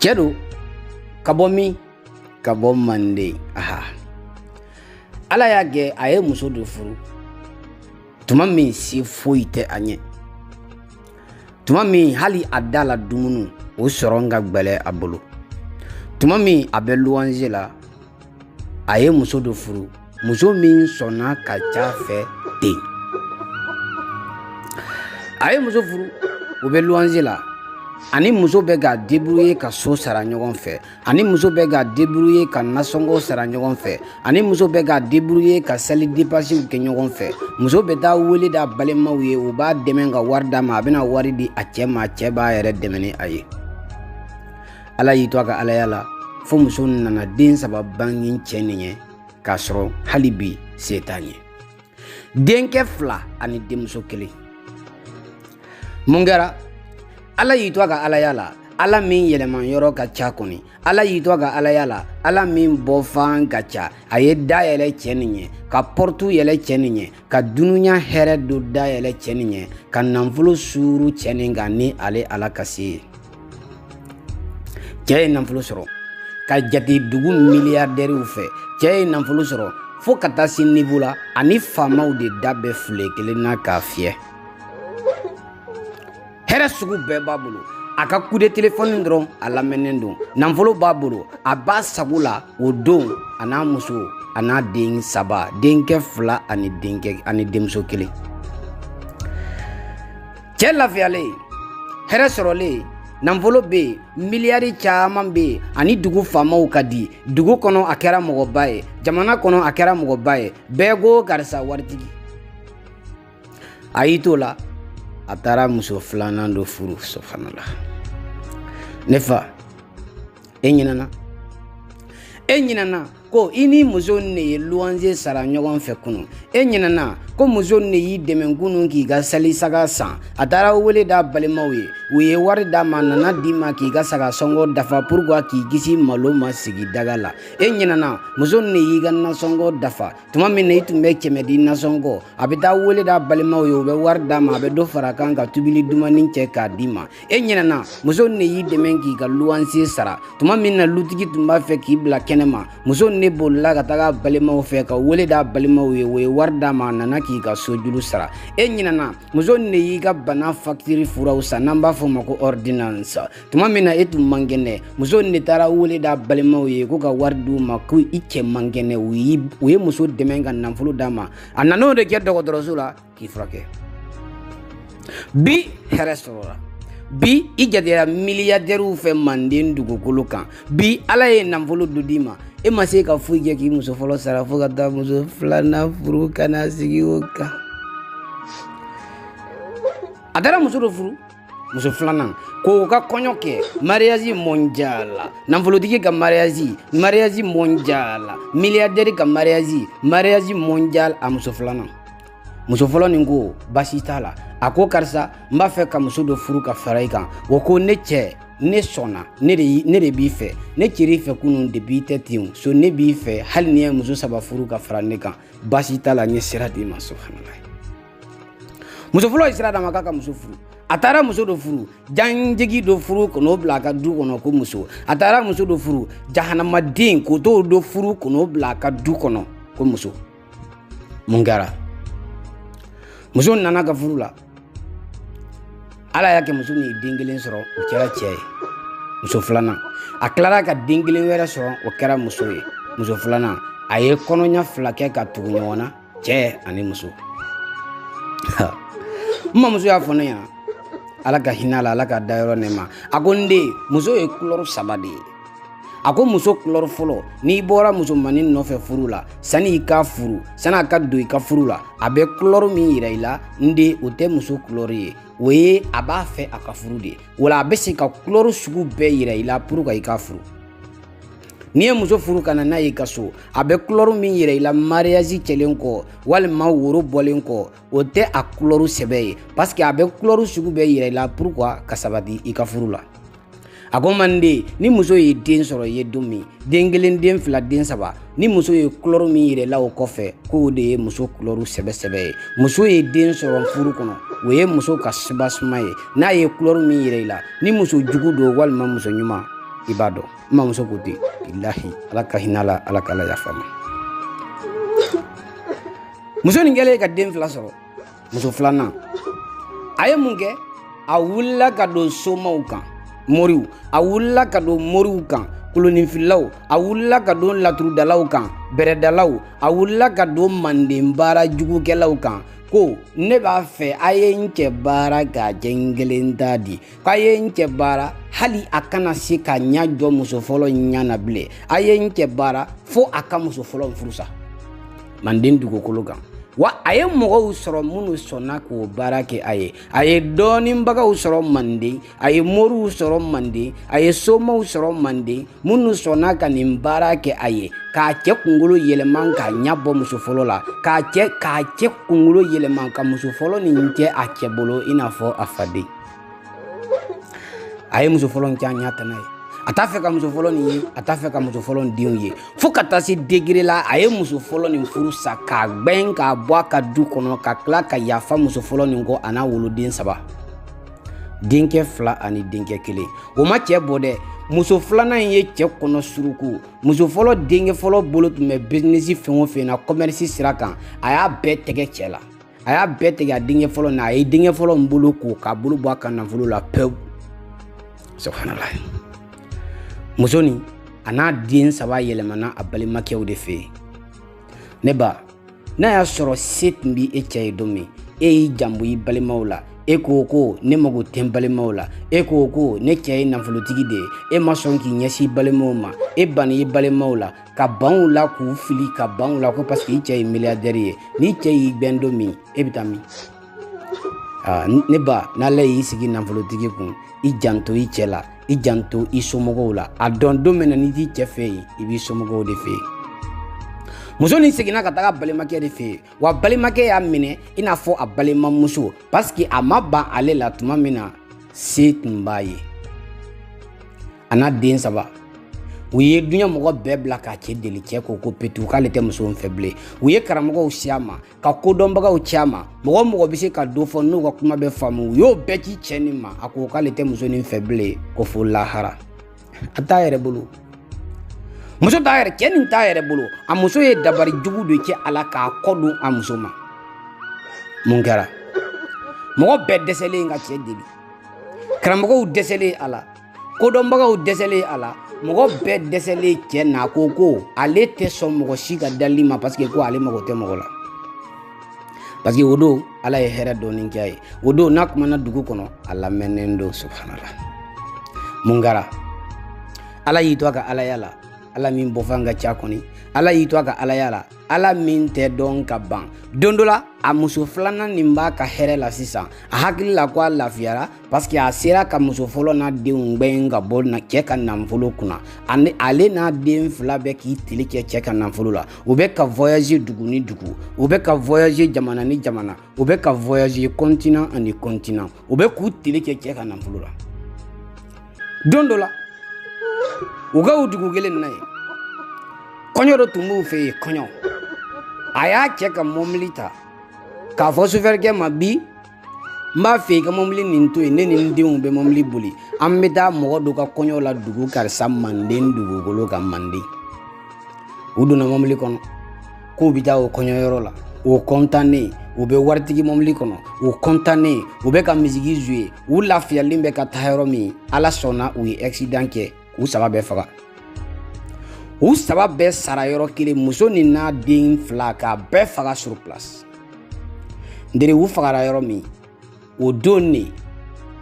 cɛ do ka bɔ min ka bɔ manden aha ala y'a kɛ a ye muso do furu tuma min se foyi tɛ a ɲɛ tuma min hali a da la dumuni o sɔrɔ ka gbɛlɛ a bolo tuma min a bɛ luwanze la a ye muso dɔ furu muso min sɔnna ka c'a fɛ ten a ye muso furu u bɛ luwanze la a ni muso bɛ ka debrouiller ka so sara ɲɔgɔn fɛ a ni muso bɛ ka debrouiller ka nasɔngɔ sara ɲɔgɔn fɛ a ni muso bɛ ka debrouiller ka sali depansiw kɛ ɲɔgɔn fɛ muso bɛ taa wele d'a balimaw ye u b'a dɛmɛ ka wari d'a ma a bɛna wari di a cɛ ma a cɛ b'a yɛrɛ dɛmɛ ni a ye ala y'i to a ka alaya la fo muso nana den saba bange cɛ nin ye k'a sɔrɔ hali bi se t'a ye denkɛ fila ani denmuso kelen mun kɛra ala y'i to a ka alaya la ala min yɛlɛma yɔrɔ ka ca kɔni ala y'i to a ka alaya la ala min bɔfan ka ca a ye da yɛlɛ cɛ nin ye ka pɔrɔtu yɛlɛ cɛ nin ye ka dunuya hɛrɛ do dayɛlɛ cɛ nin ye ka nanfolo suuru cɛ nin kan ni ale ala ka se ye cɛɛ ye nanfolo sɔrɔ ka jate dugu miliyardɛriw fɛ cɛɛ ye nanfolo sɔrɔ fo ka taa se nivo la a ni faamaw de da bɛ file kelen na k'a fiyɛ hɛrɛ sugu bɛɛ b'a bolo a ka coup de telefɔni dɔrɔn a lamɛnnen don nanfolo b'a bolo a b'a sago la o don a n'a muso a n'a den saba denkɛ fila ani denkɛ ani denmuso kelen cɛɛ lafiyalen hɛrɛ sɔrɔlen nanfolo bɛ yen miliyari caaman bɛ yen a ni dugu faamaw ka di dugu kɔnɔ a kɛra mɔgɔba ye jamana kɔnɔ a kɛra mɔgɔba ye bɛɛ ko karisa waritigi a y'i t'o la a taara muso filanan dɔ furu subhanallah ne fa e ɲinɛna e ɲinɛna ko i ni muso ne ye luwanze sara ɲɔgɔn fɛ kunu e ɲinɛna ko muso ne y'i dɛmɛ kunu k'i ka salisaga san a taara wele d'a balimaw ye u ye wari d'a ma nana d'i ma k'i ka saga sɔngɔ dafa pourquoi k'i kisi malo ma sigi daga la e ɲinɛna muso ne y'i ka nasɔngɔ dafa tuma min na i tun bɛ kɛmɛ di nasɔngɔ a bɛ taa wele d'a balimaw ye u bɛ wari d'a ma a bɛ dɔ fara kan ka tobili dumannin kɛ k'a d'i ma e ɲinɛna muso ne y'i dɛmɛ k'i ka luwanse sara tuma min na lutigi tun b'a fɛ k'i bila kɛnɛma muso ne bolila ka taga a balimaw fɛ ka wele d'a balimaw ye u ye wari d'a ma a nana k'i ka sojuru sara e ɲinɛna muso ne y'i ka bana fakitiri furaw san n'an b'a fɔ o ma ko ordonnance tuma min na e tun man kɛnɛ muso nin de taara wele d'a balimaw ye ko ka wari d'u ma ko i cɛ man kɛnɛ u ye muso dɛmɛ ka nafolo d'a ma a nan'o de kɛ dɔgɔtɔrɔso la k'i furakɛ bi hɛrɛ sɔrɔla bi i jatera miliyadɛriw fɛ manden dugukolo kan bi ala ye nafolo dɔ d'i ma e ma se ka foyi kɛ k'i muso fɔlɔ sara fo ka taa muso filanan furu ka na sigi o kan a taara muso dɔ furu muso filanan k'o ka kɔɲɔ kɛ mariyazi mɔnjala nafolotigi ka mariyazi mariyazi mɔnjala miliyadɛri ka mariyazi mariyazi mɔnjal a muso filanan muso fɔlɔ nin ko basi t'a la a ko karisa n b'a fɛ ka muso dɔ furu ka fara i kan o ko ne cɛ ne sɔnna ne de b'i fɛ ne tɛr'i fɛ kunun depuis i tɛ ten so ne b'i fɛ hali n'i ye muso saba furu ka fara ne kan basi t'a la n ye sira d'i ma subhanalayi muso fɔlɔ ye sira d'a ma k'a ka muso furu a taara muso dɔ furu janjigi dɔ furu ka n'o bila a ka du kɔnɔ ko muso a taara muso dɔ furu jahanamaden k'o t'o dɔ furu ka n'o bila a ka du kɔnɔ ko muso mun kɛra muso nan'a ka furu la ala y'a kɛ muso nin ye den kelen sɔrɔ o kɛra cɛ ye muso filanan a tilara ka den kelen wɛrɛ sɔrɔ o kɛra muso ye muso filanan a ye kɔnɔɲa fila kɛ ka tugu ɲɔgɔn na cɛ ani muso n mamuso y'a fɔ ne ɲɛna ala ka hin'a la ala k'a dayɔrɔ nɛɛma a ko n den muso ye kulɔrɔ saba de ye a ko muso kulɔrɔ fɔlɔ n'i bɔra musomanin nɔfɛ furu la sani i k'a furu sani a ka don i ka furu la a bɛ kulɔrɔ min yira i la n den o tɛ muso kulɔrɔ ye o ye a b'a fɛ a ka furu de wala a bɛ se ka kulɔrɔ sugu bɛɛ yira i la pour que i k'a furu n'i ye muso furu ka na n'a y'i ka so a bɛ kulɔru min yira i la mariyazi kɛlen kɔ walima woro bɔlen kɔ o tɛ a kulɔru sɛbɛ ye pasike a bɛ kulɔru sugu bɛɛ yira i la pour que a ka sabati i ka furu la a ko manden ni muso ye den sɔrɔ i ye don min den kelen den fila den saba ni muso ye kulɔru min yira i la o kɔfɛ k'o de ye muso kulɔru sɛbɛsɛbɛ ye muso ye den sɔrɔ furu kɔnɔ o ye muso ka sibasuma ye n'a ye kulɔru min yira i la ni muso jugu don walima muso ɲuman i b'a dɔn n mamuso ko ten bilahi ala ka hin'a la ala k'ala yaf'a ma muso nin kɛlen ka den fila sɔrɔ muso filanan a ye mun kɛ a wulila ka don somaw kan moriw a wulila ka don moriw kan koloninfililaw a wulila ka don laturudalaw kan bɛrɛdalaw a wulila ka don manden baara jugukɛlaw kan ko ne b'a fɛ a ye n cɛ baara k'a kɛ n kelen ta di k'a ye n cɛ baara hali a kana se ka ɲa jɔ muso fɔlɔ ɲa na bilen a ye n cɛ baara fo a ka muso fɔlɔ furusa manden dugukolo kan wa a ye mɔgɔw sɔrɔ minnu sɔnna k'o baara kɛ a ye a ye dɔɔninbagaw sɔrɔ manden a ye moriw sɔrɔ manden a ye somaw sɔrɔ manden minnu sɔnna ka nin baara kɛ a ye k'a cɛ kunkolo yɛlɛma k'a ɲɛ bɔ muso fɔlɔ la k'a cɛ kunkolo yɛlɛma ka muso fɔlɔ nin kɛ a cɛ bolo i n'a fɔ a faden a ye muso fɔlɔ in kɛ a ɲa tana ye a t'a fɛ ka muso fɔlɔ nin ye a t'a fɛ ka muso fɔlɔ nin denw ye fo ka taa se degere la a ye muso fɔlɔ nin furu sa k'a gbɛn k'a bɔ a ka du kɔnɔ ka tila ka yafa muso fɔlɔ nin kɔ a n'a woloden saba denkɛ fila ani denkɛ kelen o ma cɛɛ bɔ dɛ muso filanan in ye cɛɛ kɔnɔ suruku muso fɔlɔ denkɛ fɔlɔ bolo tun bɛ bizinisi fɛn o fɛn na kɔmɛrisi sira kan a y'a bɛɛ tɛgɛ cɛɛ la a y'a bɛɛ tɛgɛ a denkɛ fɔlɔ na a ye denkɛ fɔlɔ in bolo ko k'a bolo bɔ a ka nafolo la pewu subhanala muso nin a n'a den saba yɛlɛmana a balimakɛw de fɛ yen ne ba n'a y'a sɔrɔ se tun bɛ e cɛ ye don min e y'i janbo i balimaw la e ko ko ne mago tɛ n balimaw la e ko ko ne cɛ ye nafolotigi de ye e ma sɔn k'i ɲɛsin balimaw ma e banna i balimaw la ka ban u la k'u fili ka ban u la ko parce que i cɛ ye milliardaire ye n'i cɛ y'i gbɛn don min e bɛ taa min ne ba n'ala y'i sigi nafolotigi kun i janto i cɛ la i janto i somɔgɔw la a dɔn don min na n'i t'i cɛ fɛ yen i b'i somɔgɔw de fɛ yen muso nin seginna ka taga balimakɛ de fɛ yen wa balimakɛ y'a minɛ i n'a fɔ a balimamuso paseke a ma ban ale la tuma min na se tun b'a ye a n'a den saba u ye duɲa mɔgɔ bɛɛ bila k'a cɛ deli cɛ ko ko petu k'ale tɛ muso in fɛ bilen u ye karamɔgɔw ci a ma ka kodɔnbagaw ci a ma mɔgɔ o mɔgɔ bɛ se ka do fɔ n'u ka kuma bɛ faamu u y'o bɛɛ ci cɛ nin ma a ko k'ale tɛ muso nin fɛ bilen ko fo lahara a t'a yɛrɛ bolo muso t'a yɛrɛ cɛ nin t'a yɛrɛ bolo a muso ye dabari jugu de kɛ a la k'a kɔ don a muso ma mun kɛra mɔgɔ bɛɛ dɛsɛlen ka cɛ deli karamɔgɔw dɛsɛlen a la kodɔnbagaw dɛsɛlen a la mɔgɔ bɛɛ dɛsɛlen cɛ na ko ko ale tɛ sɔn mɔgɔ si ka dali ma paseke ko ale mago tɛ mɔgɔ la parce que o don ala ye hɛrɛ dɔɔni kɛ a ye o don n'a kumana dugu kɔnɔ a lamɛnnen don subhanala mun kɛra ala y'i to a ka alaya la ala min bɔfan ka ca kɔni ala y'i to a ka alaya la ala min tɛ dɔn ka ban don dɔ la a muso filanan nin b'a ka hɛrɛ la sisan a hakili la ko a lafiyara parseke a sera ka muso fɔlɔ n'a denw gbɛn ka bɔ cɛ ka nanfolo kunna ale n'a den fila bɛ k'i tele kɛ cɛ ka nanfolo la u bɛ ka voyager dugu ni dugu u bɛ ka voyager jamana ni jamana u bɛ ka voyager continent ani continent u bɛ k'u tele kɛ cɛ ka nanfolo la don dɔ la u ka o dugu kelen na ye kɔɲɔ dɔ tun b'u fɛ yen kɔɲɔ a y'a cɛ ka mɔbili ta k'a fɔ sofɛrikɛ ma bi n b'a fɛ i ka mɔbili nin to yen ne ni n denw bɛ mɔbili boli an bɛ taa mɔgɔ dɔ ka kɔɲɔ la dugu karisa manden dugukolo kan manden u donna mɔbili kɔnɔ k'u bɛ taa o kɔɲɔyɔrɔ la o kɔntannen u bɛ waritigi mɔbili kɔnɔ u kɔntannen u bɛ ka misigi jouer u lafiyalen bɛ ka taa yɔrɔ min ala sɔnna u ye akisidan kɛ k'u saba bɛɛ faga u saba bɛɛ sara yɔrɔ kelen muso nin n'a den fila k'a bɛɛ faga sur place ndere u fagara yɔrɔ min o don ne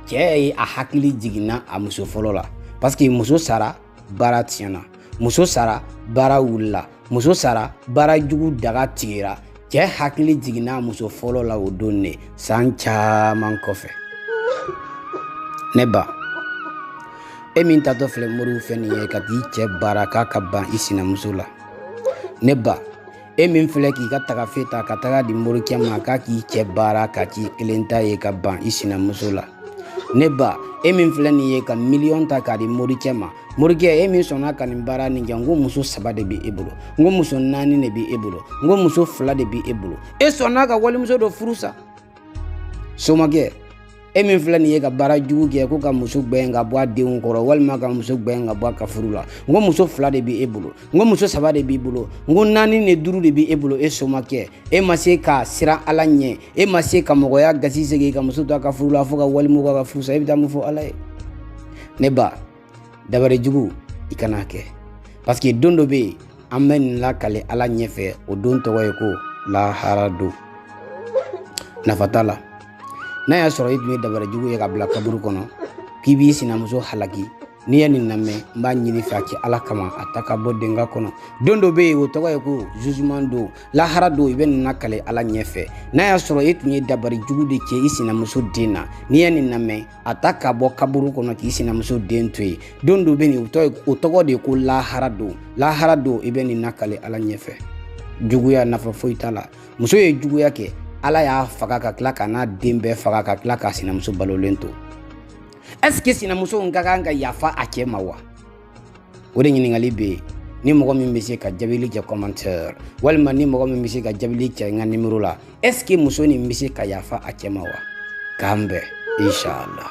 cɛɛ ye a hakili jiginna a muso fɔlɔ la parseke muso sara baara tiɲɛna muso sara baara wulila muso sara baara jugu daga tigɛra cɛɛ hakili jiginna muso fɔlɔ la o don ne san caaman kɔfɛ ne ba e min taatɔ filɛ moriw fɛ nin ye ka t'i cɛ baara k'a ka ban i sinamuso la ne ba e min filɛ k'i ka tagafe ta ka tag'a di morikɛ ma k'a k'i cɛ baara k'a k'i kelen ta ye ka ban i sinamuso la ne ba e min filɛ nin ye ka miliyɔn ta k'a di morikɛ ma morikɛ e min sɔnna ka nin baara nin kɛ n ko muso saba de bɛ e bolo n ko muso naani de bɛ e bolo n ko muso fila de bɛ e bolo e sɔnna ka walimuso dɔ furu sa somakɛ e min filɛ nin ye ka baara jugu kɛ ko ka muso gbɛn ka bɔ a denw kɔrɔ walima ka muso gbɛn ka bɔ a ka furu la n ko muso fila de bɛ e bolo n ko muso saba de b'i bolo n ko naani ni duuru de bɛ e bolo e somakɛ e ma se ka siran ala ɲɛ e ma se ka mɔgɔya gasi sigi ka muso to a ka furu la fo ka walimuso ka furu sa e bɛ taa mun fɔ ala ye ne ba dabari jugu i kana kɛ parseke don dɔ bɛ yen an bɛ nin lakale ala ɲɛfɛ o don tɔgɔ ye ko lahara don nafa t'a la n'a y'a sɔrɔ i tun ye dabari jugu ye k'a bila kaburu kɔnɔ k'i b'i sinamuso halaki n'i ye nin lamɛn n b'a ɲin'i fɛ a kɛ ala kama a ta k'a bɔ denka kɔnɔ don dɔ bɛ yen o tɔgɔ ye ko jugement don lahara don i bɛ nin lakale ala ɲɛfɛ n'a y'a sɔrɔ e tun ye dabari jugu de kɛ i sinamuso den na n'i ye nin lamɛn a ta k'a bɔ kaburu kɔnɔ k'i sinamuso den to yen don dɔ bɛ yen o tɔgɔ de ye ko lahara don lahara don i bɛ nin nakale ala ɲɛfɛ juguya nafa foyi t'a la muso ye juguya kɛ ala y'a faga ka tila k'a n'a den bɛɛ faga ka tila k'a sinamuso balolen to ɛseke sinamuso in ka kan ka yafa a cɛ ma wa o de ɲininkali bɛ yen ni mɔgɔ min bɛ se ka jabili kɛ commentaire walima ni mɔgɔ min bɛ se ka jabili kɛ n ka nimero la est-ce que muso nin bɛ se ka yafa a cɛ ma wa k'an bɛn inshallah